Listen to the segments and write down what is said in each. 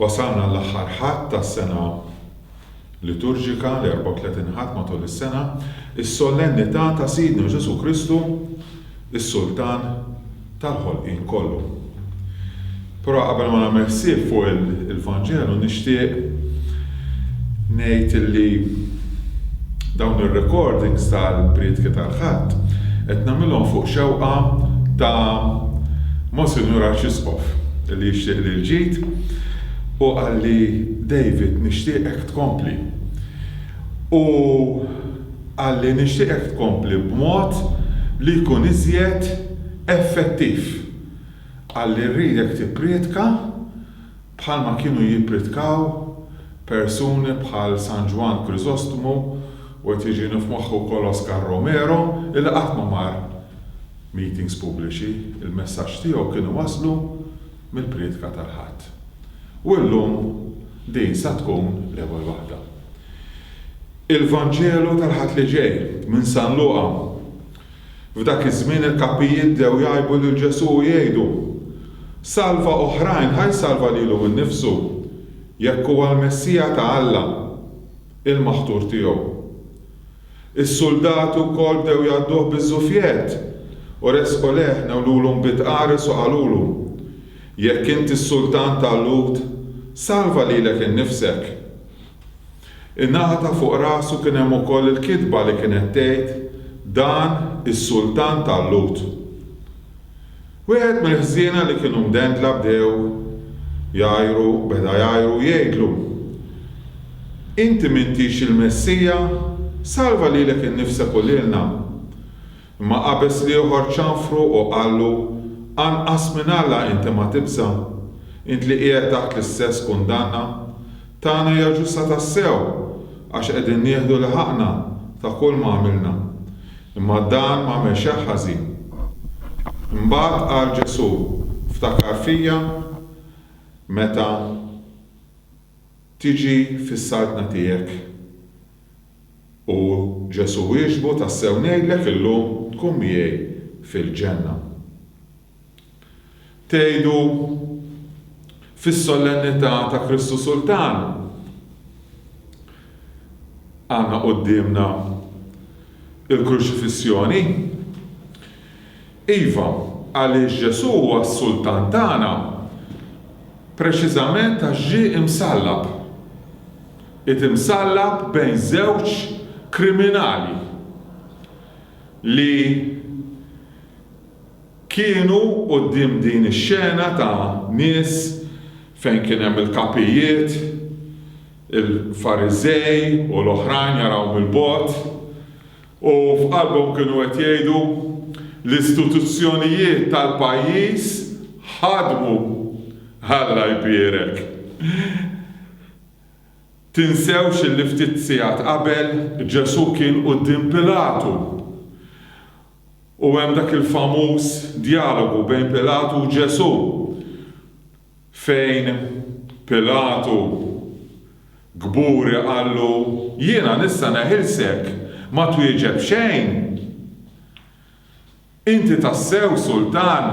Wasalna l-aħħar Ħadd tas-sena liturġika, l-34 Ħadd matul is-sena, is-Sollennità ta' Sidna Ġesù Kristu, is-Sultan tal-ħolqien kollu. Però qabel ma nagħmel ħsieb fuq il-Vanġelu nixtieq ngħid li dawn ir-recordings tal-priedki tal-Ħadd qed nagħmilhom fuq xewqa ta' Monsinjur Arċisqof li jixtieq li l-ġid u qalli David nixtieqek tkompli u qalli nixtieqek tkompli b'mod li jkun iżjed effettiv. Qalli rridek tipprietka bħalma kienu jippritkaw persuni bħal San Ġwann Kriżostmu u qed jiġini f'moħħi wkoll Oscar Romero illi qatt ma mar meetings pubbliċi, il-messaġġ tiegħu kien iwasslu mill-prietka tal-Ħadd. U llum din sa tkun l-ewwel waħda. Il-Vanġelu tal-Ħadd li ġej minn San Luqa. F'dak iż-żmien il-kapijiet bdew jgħibu lil Ġesù u jgħidu, Salva oħrajn, ħa jsalva lilu nnifsu, jekk huwa l-Messija ta' Alla, il-maħtur tiegħu. Is-suldati wkoll bdew jgħadduh biż-żufjett, u resqu lejh, newlulhom bid qares u qalulu, Jekk int is-Sultan tal-Lhud, salva lilek innifsek. In-naħa ta' fuq rasu kien hemm ukoll il-kitba li kienet tgħid, Dan is-sultan tal-Lhud. Wieħed mill-ħżiena li kienu mdendla bdew jgħajru, beda jgħajru u jgħidlu, Inti m'intix il-Messija? Salva lilek innifsek u lilna! Imma qabeż l-ieħor ċanfru u qallu, Anqas minn Alla inti ma tibża'? Int li qiegħed taħt l-istess kundanna, tagħna hija ġusta tassew, għax qegħdin nieħdu li ħaqqna ta' kull ma għamilna. Imma dan m'għamel xejn ħażin. Imbagħad qal Ġesù, Ftakar fija meta tiġi fis-Saltna tiegħek. U Ġesù wieġbu, Tassew ngħidlek illum tkun miegħi fil-Ġenna. Tgħidu, Fis-Sollennità ta' Kristu Sultan għandna quddiemna l-Kruċifissjoni. Iva, għaliex Ġesù huwa s-Sultan tagħna preċiżament għax ġie msallab. Qiegħed imsallab bejn żewġ kriminali li kienu quddiem din ix-xena ta' nies fejn kien hemm il-kapijiet, il-Fariżej u l-oħrajn jaraw mill-bogħod u f'qalbhom kienu qed jgħidu, L-istituzzjonijiet tal-pajjiż ħadmu! Alla jbierek! Tinsewx illi ftit sigħat qabel Ġesù kien quddiem Pilatu u hemm dak il-famuż djalogu bejn Pilatu u Ġesù fejn Pilatu kburi qallu, Jiena nista' neħilsek, ma twieġeb xejn? Inti tassew sultan?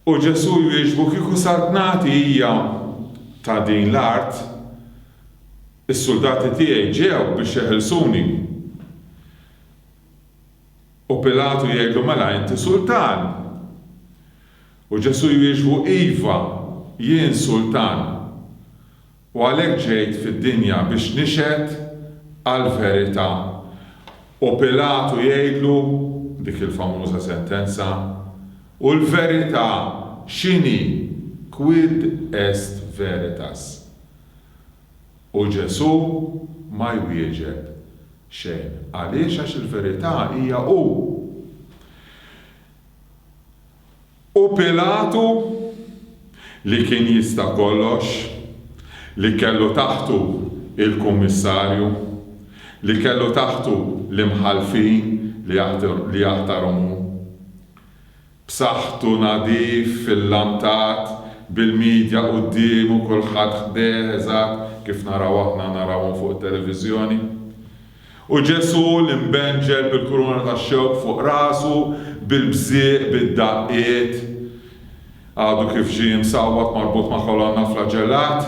U Ġesù jwieġbu, Kieku sart nagħti hija ta' din l-art, is-suldati tiegħi ġew biex jeħilsuni. U Pilatu jgħidlu, Mela inti sultan! U Ġesù jwieġbu, Iva, jien sultan. U għalhekk ġejt fid-dinja biex nixhed għall-verità. U Pilatu jgħidlu dik il-famuża sentenza, U l-verità x'inhi? Quid est veritas? U Ġesù ma jwieġeb xejn. Għaliex? Għax il-verità hija hu. U Pilatu, li kien jista' kollox, li kellu taħtu l-kummissarju, li kellu taħtu l-imħallfin li jaħtarhom hu, b'saħħtu nadif illantat bil-midja quddiemu kulħadd ħdejh eżatt kif naraw aħna narawhom fuq it-televiżjoni. U Ġesù li mbenġel bil-kuruna tax-xewk fuq rasu, bil-bżieq, bid-daqqiet, għadu kif ġie msawwat marbut ma' kolonna flaġellat.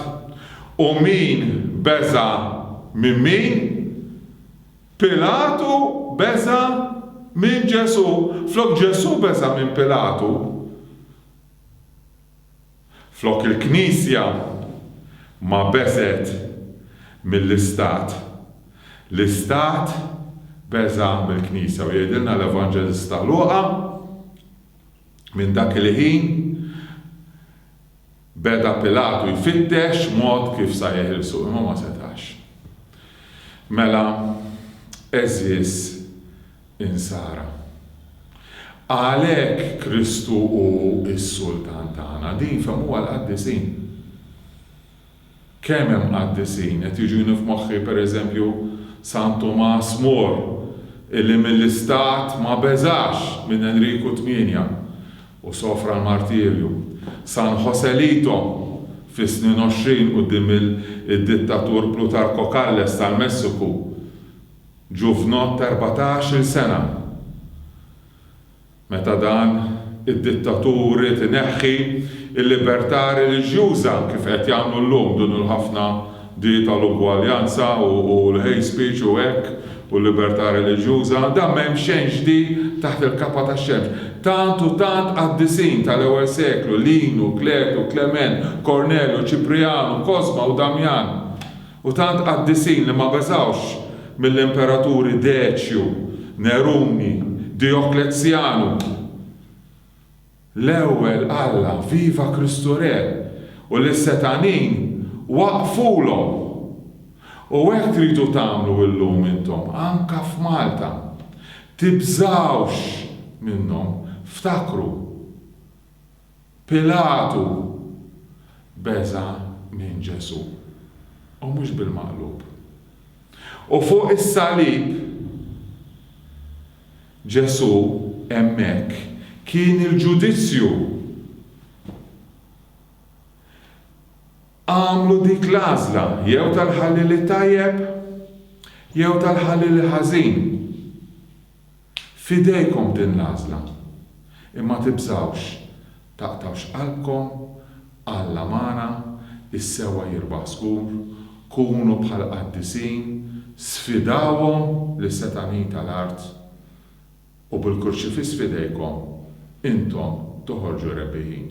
U min beża' minn min? Pilatu beża' minn Ġesù, flok Ġesù beża' minn Pilatu. Flok il-Knisja ma beżgħet mill-Istat, l-Istat beża' mill-Knisja u jgħidilna l-Evanġelista Luqa, Minn dak il-ħin beda Pilatu jfittex mod kif sa jeħilsu, imma ma setax. Mela, għeżież Insara. Għalhekk Kristu hu s-Sultan tagħna. Din fehmuha l-qaddisin. Kemm hemm qaddisin, qed jiġuni f'moħħi pereżempju San Tumas More, illi mill-istat ma beżax minn Enriku Tmienja u sofra l-martirju, San Joselito fis-snin għoxrin quddiem id-dittatur Plutarco Calles tal-Messiku Ġuvnot ta' erbatax-il sena. Meta dan id-dittatur ried ineħħi l-libertà reliġjuża, kif qed jagħmlu llum dun il-ħafna di tal-ugwaljanza u l-hate speech u hekk u l-libertà reliġjuża, dan m'hemm xejn ġdid taħt il-kapa tax-xemx. Tant u tant qaddisin tal-ewwel seklu, Linu, Kletu, Klement, Kornelju, Ċiprijanu, Kosma u Damjan, U tant qaddisin li ma beżgħux mill-imperaturi Deċju, Neruni, Dijoklezzjanu. L-ewwel qalla Viva Kristu Re! u lis-setgħanin waqqfulhom! U hekk tridu tagħmlu illum intom, anke f'Malta. Tibżgħux minnhom. Ftakru. Pilatu beża' minn Ġesù, u mhux bil-maqlub. U fuq is-salib, Ġesù hemmhekk kien il-ġudizzju. Għamlu dik l-għażla, jew tal-ħalliel it-tajjeb, jew tal-ħalliel il-ħażin. F'idejkom din l-għażla. Imma tibżgħux, taqtgħux qalbkom, Alla magħna, is-sewwa jirbaħ żgur, kunu bħal qaddisin, sfidawhom lis-setgħaniji tal-art, u bil-Kurċifiss f'idejkom, intom toħorġu rebbieħin.